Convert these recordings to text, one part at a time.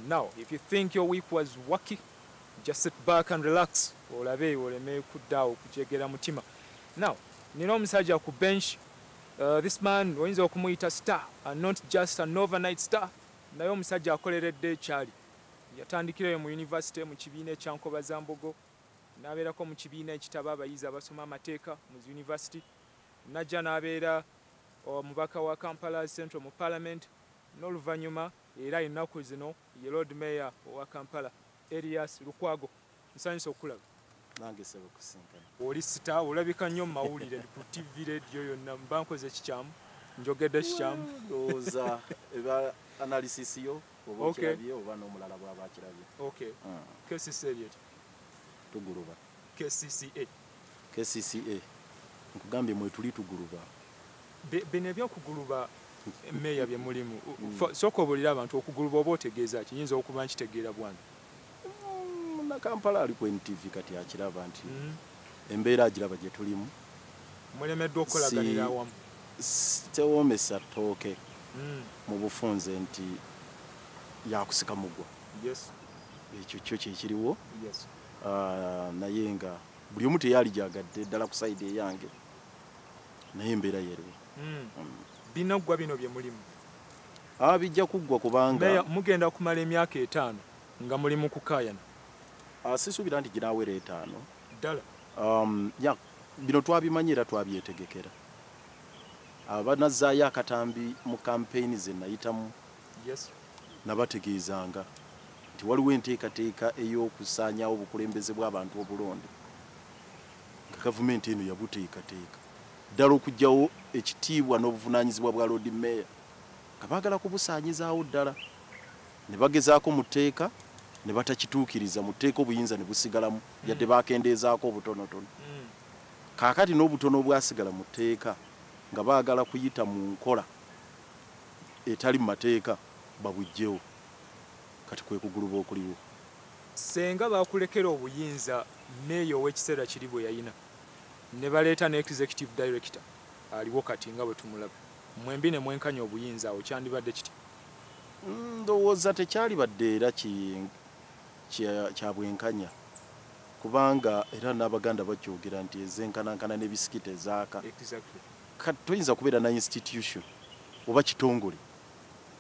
Now, if you think your week was wacky, just sit back and relax. Olabe, oleme kudao, kujegera mutima. Now, nina omusajja ku bench. Uh, this man oyinza okumuyita star and not just an overnight star. Naye omusajja akoleredde ekyali. Yatandikirayo mu yunivasite mu kibiina ekya Nkobazambogo n'abeerako mu kibiina ekitaba abayizi abasoma amateeka mu zi yunivasiti n'ajja n'abeera omubaka wa Kampala Central mu Palamenti n'oluvannyuma era ennaku zino ye Lord Mayor owa Kampala Erias Lukwago Nsanyuse okukulaba. Nange sebo kusinkana. Oli sita olabika nnyo mawulire ku TV radio yonna mba nkoze kikyamu. Njogedde kikyamu. Ndowooza eba analysis yo oba okirabye oba n'omulala bw'aba akirabye. Okay. Hmm. KCC eryeti? Tuguluba. KCCA. kcca nkugambye mwetuli tuguluba bino ebyokuguluba meeya bye mulimu hmm. sooka obuulira abantu okuguluba oba otegeeza kiyinza okuba nkitegeera bwange hmm, munakampala ali ku ntv kati akiraba nti hmm. embeera agiraba gye tulimu mulemeddwa okukolaganira awamu tewoomesa ttooke mu bufunze nti yakusika mugwa ekyo kyo kyekiriwo Ah, naye nga buli omu teyaligyagadde ddala ku sayidi eyange naye embeera yero hmm. hmm. binaggwa bino bye mulimu ah, bijja kuggwa kubanga mugenda kumala emyaka etaano nga muli mu kukaayana ah, sisuubira nti ginaawera etaano ddala um, ya bino twabimanyi era twabyetegekera abanazzaayo akatambi mu kampeyini ze nayitamu nabategeezanga nti waliwo enteekateeka ey'okusaanyaawo obukulembeze bw'abantu obulonde nga gavumenti eno yabuteekateeka ddala okugyawo ekitiibwa n'obuvunaanyizibwa bwa loodi meeya nga baagala kubusaanyizaawo ddala ne bagezaako mu tteeka ne batakituukiriza mu tteeka obuyinza ne busigalamu mm. yadde baakendeezaako obutonotono mm. kaakati n'obutono obwasigala mu tteeka nga baagala kuyita mu nkola etali mu mateeka babujjewo kati kwekuguluba okuliwo. Ssenga bakulekera obuyinza mayor ow'ekiseera kiri bweyayina nebaleeta ne executive director aliwo kati nga bwetumulaba mwembi nemwenkanya obuyinza awo kyandibadde kitya? Ndowooza tekyalibadde era kyabwenkanya kubanga era n'Abaganda bakyogera nti ezenkanankana ne bisikita ezaaka Kati toyinza kubeera na institution oba kitongole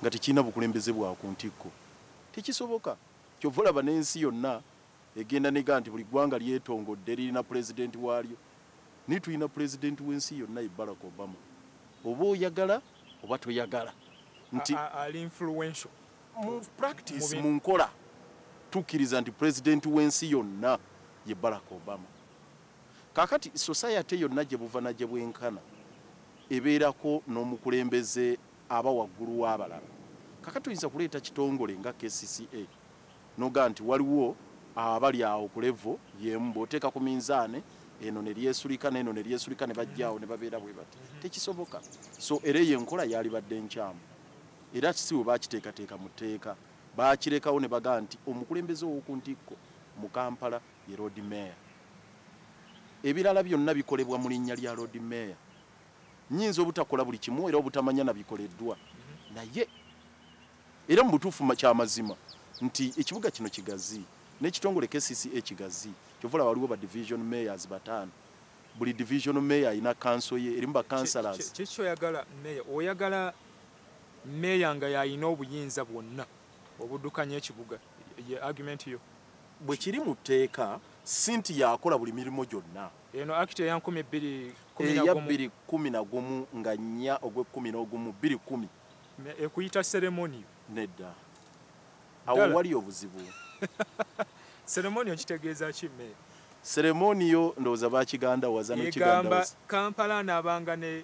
nga tekirina bukulembeze bwa ku ntikko, tekisoboka. Kyova olaba n'ensi yonna egenda nega nti buli ggwanga lyetongodde lirina pulezidenti waalyo, naye tulina pulezidenti w'ensi yonna ye Barack Obama. Oba oyagala oba toyagala nti ali influential mu practice, mu nkola tukkiriza nti pulezidenti w'ensi yonna ye Barack Obama. Kakati society yonna gyebuva nagyebwenkana ebeerako nomukulembeze aba waggulu wabalala. Kakati oyinza kuleeta kitongole nga kcca nogamba nti waliwo abali awo ku level yemu bwoteeka ku minzaane eno neryesulika neno neryesulika nebajja awo nebabeera bwebati. Tekisoboka. So era eyo enkola yalibadde nkyamu. Era kisi webakiteekateeka mu tteeka bakirekawo nebagamba nti omukulembeze owokuntikko mu Kampala ye Loodi Meeya. Ebirala byonna bikolebwa mu linnya lya Loodi Meeya. Nnyinza obutakola buli kimu era obutamanya na bikoleddwa naye era mu butuufu kya mazima nti ekibuga kino kigazi n'ekitongole KCCA kigazi kyova olaba waliwo ba division mayors bataano buli division mayor alina kanso ye erimu bakansalas kiki oyagala meya oyagala meya nga yalina obuyinza bwonna obudukanya ekibuga ye argument yo bwe kiri mu tteeka sinti yakola buli mirimu gyonna eno akiti eya nkumi bbiri eya bbiri kkumi na gumu nga nnya ogw'ekkumi n'ogumu bbiri kkumi ekuyita seremoniyo nedda awo wali obuzibu seremoniyo kitegeeza ki me seremoniyo ndowooza bakiganda waza nekiganda kampala anaabanga ne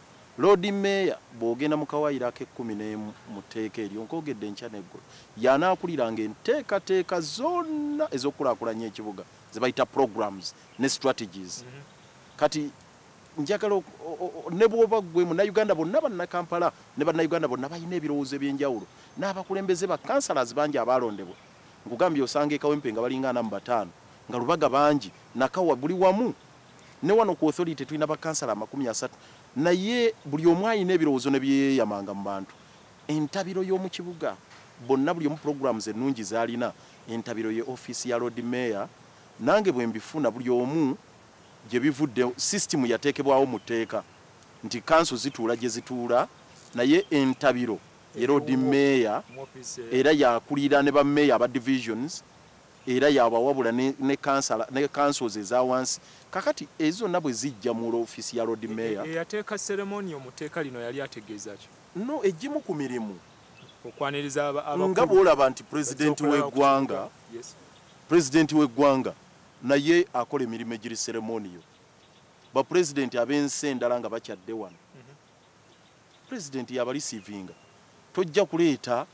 Loodi Mmeeya bw'ogenda mu kawaayiro ak'ekkumi n'emu mu tteeka eryo, nkoogedde enkya n'eggulo, y'anaakuliranga enteekateeka zonna ez'okukulaakulanya ekibuga ze bayita programs ne strategies. Kati njagala o, o, o, ne bw'oba ggwe Munnayuganda, bonna Bannakampala ne Bannayuganda bonna balina ebirowoozo eby'enjawulo. N'abakulembeze ba councillors bangi abaalondebwa, nkugambye osanga e Kawempe nga balinga ana mu bataano, nga Lubaga bangi, Nakawa, buli wamu. ne wano ku authority tulina bakansala amakumi asatu naye buli omu alina ebirowoozo ne byeyeyamanga mu bantu entabiro y'omu kibuga bonna buli omu programs ennungi zaalina entabiro ye ofiisi ya lord mayor nange bwe mbifuna buli omu gye bivudde system yateekebwawo mu tteeka nti kanso zituula gye zituula naye entabiro ye lord mayor era yakulira ne bameeya aba divisions era yabawabula ne, ne, kansala, ne councils ezawansi kakati ezo zonna bwe zijja mu office ya lord mayor eyateeka ceremonial mu teeka lino yali ategeeza ki no egimu ku mirimu okwaniriza abakulu nga bwolaba nti president w'eggwanga yes. president w'eggwanga naye akola emirimu egiri ceremonial bapulezidenti ab'ensi endala nga bakyadde wano president ya balisivinga tojja kuleeta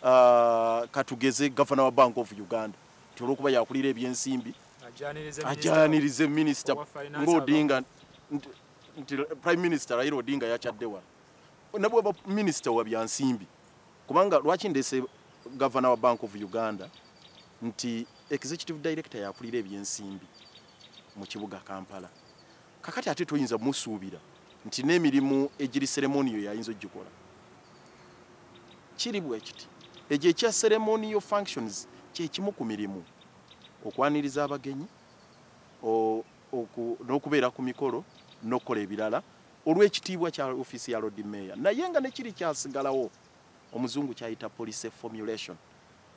uh, katugeze governor wa bank of uganda ti olwokuba yakulira ebyensimbi ajanirize minister ngaodinga nti prime minister raila odinga yakyadde wano nabwaba minister wa byansimbi kubanga lwaki ndese governor wa bank of uganda nti executive director yakulira ebyensimbi mu kibuga kampala kakati ate toyinza musuubira nti n'emirimu egiri seremoniyo yayinza ogikola kiri bwekiti egyo ekya seremoniyo functions kyekimu ku mirimu okwaniriza abagenyi n'okubeera ku mikolo n'okukola ebirala olw'ekitiibwa kya ofiisi ya lodi meeya naye nga nekiri kyasigalawo omuzungu kyayita policy formulation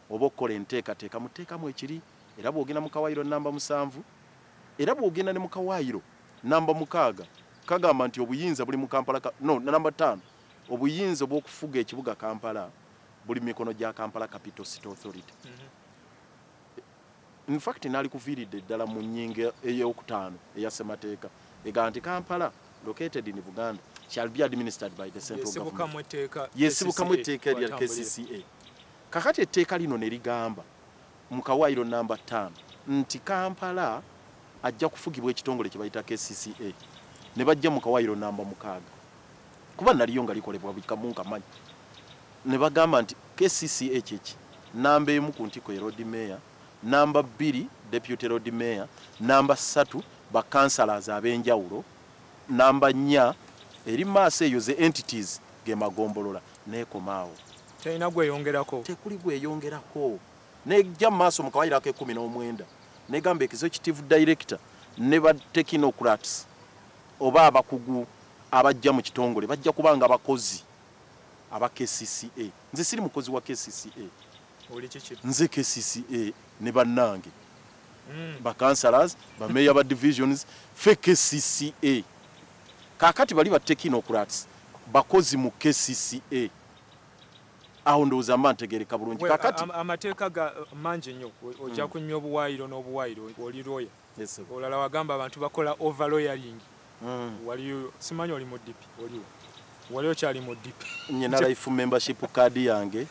oba okukola enteekateeka mu tteeka mwe kiri era bw'ogenda mu kawaayiro nnamba musanvu era bw'ogenda ne mu kawaayiro nnamba mukaaga kagamba nti obuyinza buli mu kampala no namba ttaano obuyinza obw'okufuga ekibuga kampala buli mikono gya kampala capital city authority mm-hmm. infact naali kuviiridde ddala mu nyinga eyokutaano eya ssemateeka egaa nti kampala located in buganda shall be administered by the central government yesibukamu etteeka erya kcca Kakati etteeka lino ne ligamba mu kawaayiro nnamba ttaano nti Kampala ajja kufugibwa ekitongole kye bayita KCCA ne bajja mu kawaayiro nnamba mukaaga kuba naliyo nga likolebwa buli kamu nkamanyi ne bagamba nti KCCA kyeki nnamba emu ku ntiko ye road mayor nnamba bbiri deputy road mayor nnamba ssatu ba councilors ab'enjawulo Namba nnya eri maaso eyo ze entities ge magombolola n'ekoma awo. Terina gweyongerako. Tekuli gweyongerako. Nejja mu maaso mu kawaayiro ak'ekkumi n'omwenda negamba executive director ne ba technocrats oba abakugu abajja mu kitongole bajja kubanga bakozi aba kcca nze siri mukozi wa kcca nze kcca ne bannange hmm. bacancelors bameeya ba divisions fe kcca kakati bali batekinocrats bakozi mu kcca awo ndowooza mba ntegereka bulungi kakati amateeka ga mangi nnyo ojja hmm. kunywa obuwaayiro n'obuwaayiro oli lwoya olala wagamba abantu bakola overloyering mm. waliyo simanyi oli mudipi oliwo wali okyali mudipi nyina life membership card yange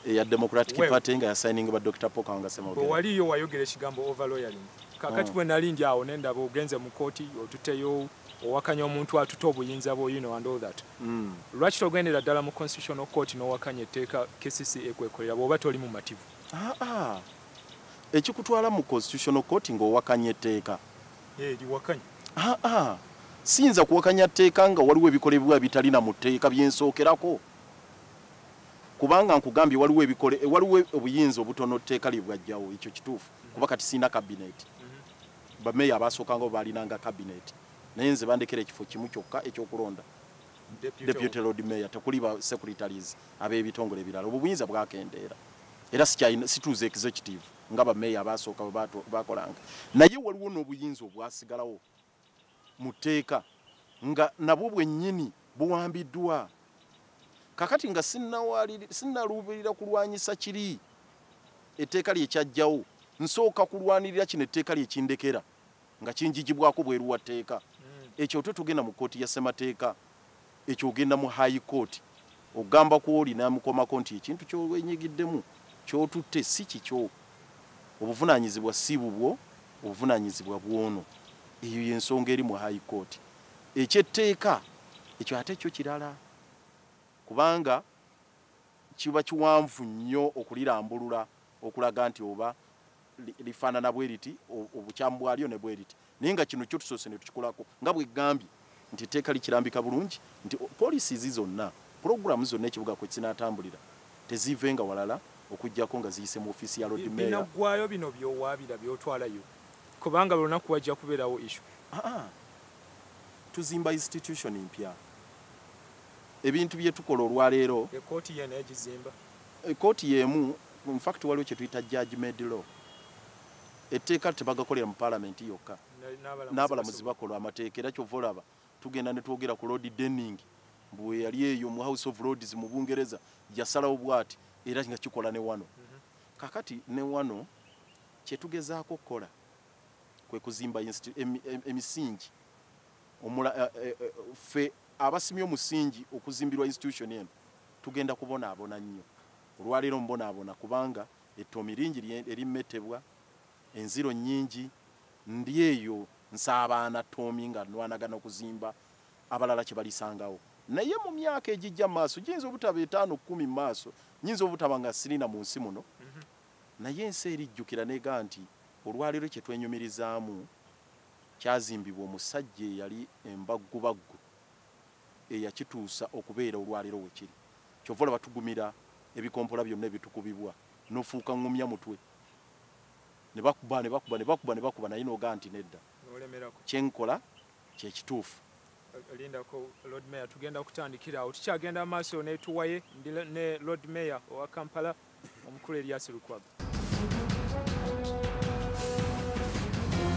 eya democratic party nga yasigning ba dr poka nga semoge waliyo wayogera ekigambo overloyering kakati mm. bwe nali ndi awo nendaba ogenze mu kooti otuteyo owakanya omuntu atute obuyinza bwo you know and all that mm. lwaki togendera ddala mu constitutional court n'owakanya etteeka kcca ekwekolera bw'oba toli mumativu ah, ah. ekikutwala mu constitutional court ng'owakanya etteeka aa siyinza kuwakanya tteeka nga waliwo ebikolebwa ebitalina mu tteeka byensookerako kubanga nkugambye waliwo ebikole waliwo obuyinza obutono tteeka lye bwajjawo ekyo kituufu kuba kati sirina kabineeti mhm. bameeya abaasookangao baalinanga kabineeti naye nze bandekera ekifo kimu kyokka ekyokulonda deputy lord mayor tekuli ba secretaries ab'ebitongole ebirala obwo buyinza bwakendeera era situuza executive nga bameeya abaasooka bakolanga naye waliwo n'obuyinza obwasigalawo mu tteeka nga nabwo bwennyini buwambiddwa kakati nga sinnaluubirira kulwanyisa kiri etteeka lyekyajjawo nsooka kulwanirira kino etteeka lyekindekera nga kinjijibwako bweru wa tteeka hmm. ekyo ote togenda mu kkooti ya ssemateeka ekyo ogenda mu high court ogamba ku oli namukomako nti ekintu kyowenyigiddemu kyotutte si kikyo obuvunaanyizibwa si bubwo obuvunaanyizibwa bwono eyo yensonga eri mu high court ekyetteeka ekyo ate kyo kirala kubanga kiba kiwanvu nnyo okulirambulula okulaga nti oba lifaanana bwe liti obukyamu bwalyo ne bwe liti naye nga kino kyo tusoose ne tukikolako nga bwegambye nti etteeka likirambika bulungi nti poliisi zi zonna pulogulaamu zonna ekibuga kwe kinaatambulira teziivenga walala okugyako nga ziyise mu ofiisi ya lodmeyaggwayo bino byowaabira byotwalayo kubanga lunaku wajja kubeerawo ishu ah, ah. tuzimba institution mpya ebintu bye tukola olwaleero ekkooti yena egizimba ekkooti yemu in fact waliwo kye tuyita judge made law etteeka tebagakolera mu palamenti yokka n'abalamuzi bakola amateeka era kyova olaba tugenda ne twogera ku lord denning mbu eyali eyo mu house of lords mu bungereza yasalawo bwati era nga kikola ne wano mhm. kakati ne wano kyetugezaako okukola kwe kuzimba emisingi omula eh, eh, eh, ffe Abasimye omusingi okuzimbirwa institution eno tugenda kubonaabona nnyo. Olwaleero mbonaabona kubanga ettoomi lingi lye erimmettebwa, enziro nnyingi, ndi eyo nsaabaana ttoomi nga ndwanagana okuzimba abalala kye balisangawo. Naye mu myaka egijja mu maaso, giyinza obutaba etaano kkumi mu maaso, nnyinza obutaba nga siri na mu nsi muno, naye ensi erijjukira n'egamba nti olwaleero kye twenyumirizaamu, Kyazimbibwa omusajja eyali embaggubaggu eyakituusa okubeera olwaleero we kiri. Kyova olaba tugumira ebikompola byonna ebitukubibwa nofuuka ngumya mutwe ne bakuba ne bakuba ne bakuba ne bakuba naye nogaa nti nedda kye nkola kye kituufu. Lindako Lord Mayor tugenda kutandikira awo tukyagenda amaaso ne tuwaye ne Lord Mayor owa Kampala omukulu Elias Lukwago.